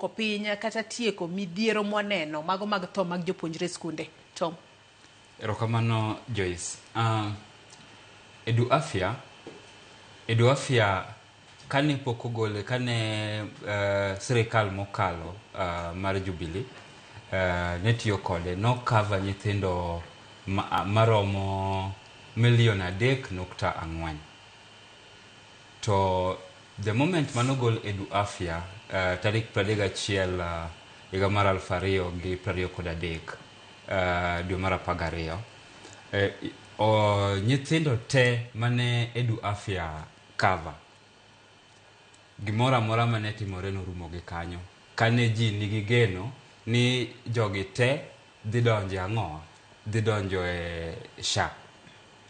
dwoko piny kata tieko midhiero mwaneno mago mag tho mag jopuonjre e skunde? Tom. Erokamano Joyce. Uh, Edu Afya, Edu Afya kane pok ogole, kane uh, sirikal mokalo uh, mar Jubilee uh, ne tiyo kode, nokava nyithindo ma, maromo milion adek nukta ang'wen. To the moment mane ogol Edu Afya uh, tarik 31 uh, higa mar 2023 uh, dwe mar 12 eh, o, nyithindo te mane Edu Afya cover gimoro amora mane timore norumo gi kanyo kane ji nigi geno ni jogi te dhi donjo e ang'o dhi donjo e sha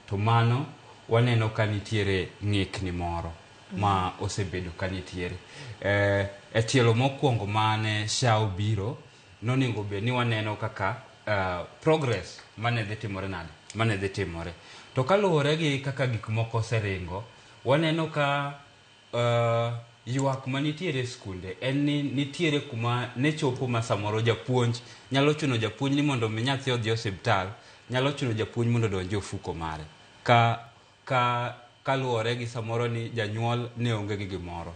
To mano waneno ka nitiere ng'ikni moro ma osebedo ka nitiere. Eh, e tielo mokwongo mane SHA obiro, noningo bed ni waneno kaka eh, progress mane dhi timore nade, mane dhi timore. To kaluwore gi kaka gik moko oseringo, waneno ka Uh, ywak ma nitiere e skunde en ni nitiere kuma ne chopo ma samoro japuonj nyalo chuno japuonj ni mondo mi nyathi odhi osiptal nyalo chuno japuonj mondo odonje ofuko mare ka ka kaluwore gi samoro ni janyuol ne onge gi gimoro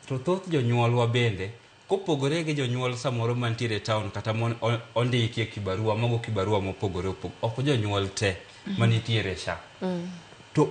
to thoth jonyuolwa bende Kopogore gi jonyuol samoro mantiere e taon kata mon ondiki e kibarua, mogo kibarua mopogore opogore, ok jonyuol te mhm. manitiere sha. Mm. To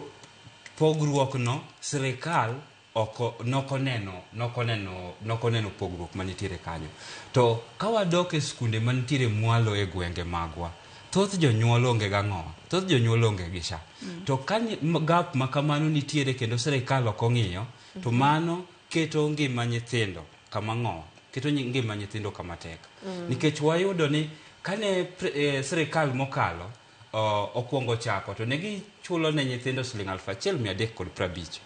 pogruokno sirikal oko nokoneno nokoneno nokoneno pogruok manitiere kanyo. To ka wadok e skunde manitiere mwalo e gwenge magwa, thoth jonyuol onge gang'owa thoth jonyuol onge gi sha mm. to ka gap ma kamano nitiere kendo sirikal ok ong'iyo to mm-hmm. mano keto ngima nyithindo kama ng'o keto nyi- ngima nyithindo kama tek Mm. nikech wayudo ni kane pre- eh, sirikal mokalo o- okwongo chako to ne gichulo ne nyithindo siling aluf achiel mia adek kod prabich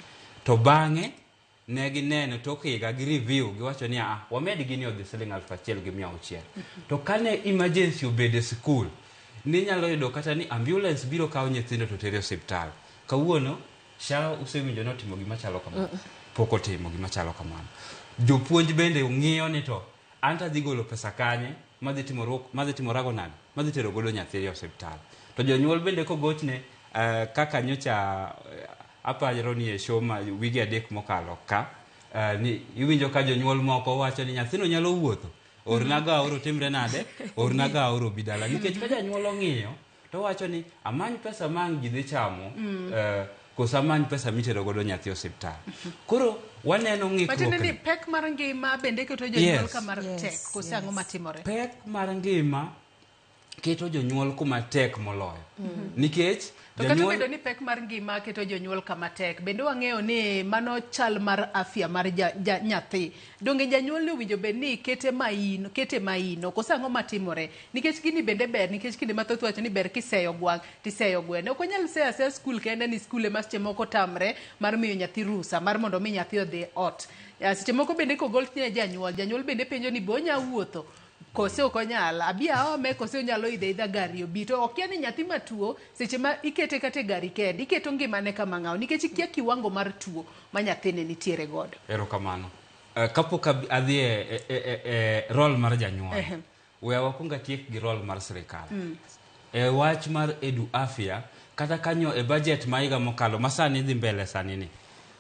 to bang'e ne gineno tok higa gi review giwacho ni a wamed gini odhi siling aluf achiel gi mia auchiel to kane emergency obedo e sikul ninyalo yudo kata ni ambulance biro kawo nyithindo to tere osiptal kawuono Sha usewinjo ni otimo gima chalo kamano? Pok otimo gima chalo kamano. Jopuonj bende ng'iyo ni to an to adhi golo pesa kanye madhi timo ruok- madhi timorago nade? Madhi tero godo nyathi e osiptal. To jonyuol bende kogochne eh, kaka nyocha eh, aparo ni e show ma wige adek mokalo ka eh, ni iwinjo ka jonyuol moko wacho ni nyathino nyalo wuotho ornago aoro timre nade ornago aoro obi dala nikech ka janyuol ong'iyo To wacho ni amany pesa ma ang' ji dhi chamo mm. eh, koso amany pesa mitero godo nyathi osiptal. Koro waneno ng'ikruok. ni pek mar ngima bende keto jonyuol kama tek koso ang'o matimore? Pek mar ngima keto jonyuol kuma tek moloyo. Mm-hmm. Nikech To kata obedo ni pek mar ngima keto jonyuol kama tek, bende wang'eyo ni mano chal mar afya mar nyathi. Donge janyuol ni owinjo bed ni kete maino, kete maino? Koso ang'o matimore? Nikech gini bende ber nikech kinde mathoth iwacho ni ber kiseyo gwang' to iseyo gweno. Ok wanyal seyo aseya skul kende ni skul ema seche moko tamre mar miyo nyathi rusa mar mondo mi nyathi odhi ot. Seche moko bende kogol ne janyuol, janyuol bende penjo ni be onya wuotho? kose ok onyal abi aome kose onyalo idhe idha gari obi to okia ni nyathi matuo seche ma ikete kata e gari kende iketo ngimane kama ng'aw nikech ikia kiwango mar tuo ma nyathine nitiere godo erokamano uh, kapok ab- adhi e, e, e, e, e rol mar janyuol Ehe. we wakwong atiek gi rol mar sirikal Mm. e wach mar edu afya kata kanyo e bajet ma higa mokalo ma sani dhi mbele sani ni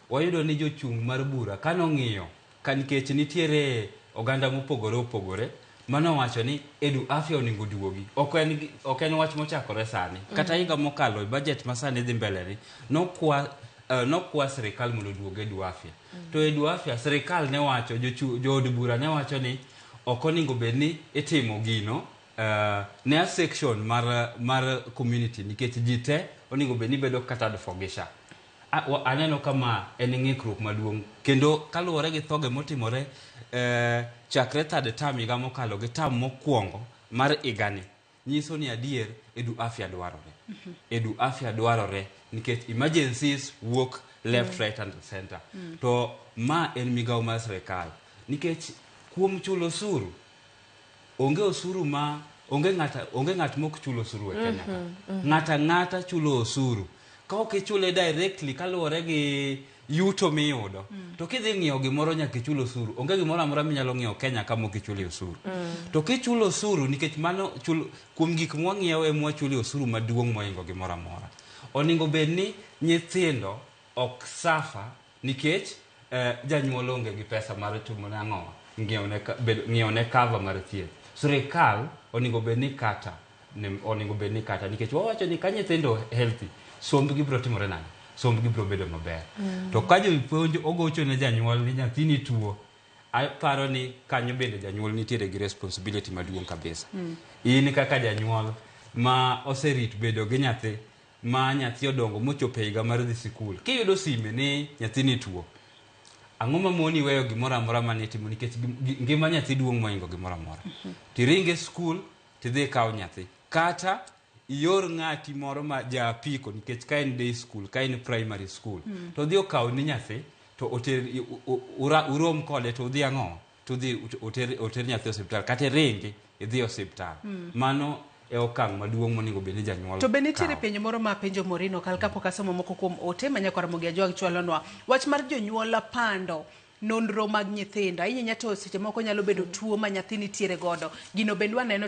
wayudo ni jochung' mar bura kano ng'iyo Ka nikech nitiere oganda mopogore opogore mane owacho ni Edu Afya onego oduogi, ok en ok en wach mochakore sani. Kata higa mokalo e budget ma sani dhi mbele ni, nokwa eh, nokwa sirikal mondo oduog Edu Afya. To Edu Afya sirikal ne wacho, jochu- jood bura ne wacho ni ok onego bed ni itimo gino eh, ne a section mar mar community nikech ji te onego bed ni bedo catered for gi SHA. Aneno ka ma en ng'ikruok maduong' kendo kaluwore gi thoge motimore eh, chakre third term higa mokalo gi term mokwongo mar higani nyiso ni adier edu afya dwarore mhm. edu afya dwarore nikech emergencies wuok left mm. right and center mm. to ma en migawo mar sirikal nikech kuom chulo suru Onge osuru ma onge ng'ata onge ng'at mok chulo osuru e Kenya ka. Mhm, mhm. Ng'ata ng'ata chulo osuru. Ka ok ichule directly kaluwore gi yuto miyudo, mm. to kidhi ng'iewo gimoro nyaka ichul osuru. Onge gimoro amora minyalo ng'iewo Kenya ka mok ichule osuru. Mm. To kichulo osuru nikech mano chul kuom gik mwang'iewo e mwachule osuru maduong' moingo gimoro amora. Oningo bed ni nyithindo ok safa Nikech eh, janyuol onge gi pesa mar timo ne ang'o ng'iewo ne ka- bedo- ng'iewo ne cover mar thieth sirikal onego bed ni kata ne- onego bed ni kata nikech wawacho ni ka nyithindo healthy sombgi biro timore nade sombgi biro bedo maber to ka jopuonj ogocho ne janyuol ni nyathini tuo aparo ni kanyo bende janyuol nitiere gi responsibility maduong' kabisa in kaka janyuol ma oserit bedo gi nyathi ma nyathi odongo mochopo e higa mar dhi sikul, kiyudo sime ni nyathini tuo, ang'o ma moni weyo gimoro amora mane itimo nikech ngima nyathi duong' mohingo gimoro amora. Mhm. Tiring e skul, tidhi ikaw nyathi. Kata ior ng'ati moro ma ja apiko nikech ka en day school, ka en primary school, mm. to odhi okaw ni nyathi to oter urom kode to udhi ang'o? tudhi oter, oter nyathi osiptal kata iringi idhi osiptal mm. mano e okang' maduong' monego bed ni janyuol to be nitiere penjo moro ma penjo morino kal kapok asomo moko kuom ote ma nyakwar mogi ajwag chwalonwa wach mar jonyuol pando nonro mag nyithindo ahinya to seche moko nyalo bedo tuo ma nyathi nitiere godo gino bende waneno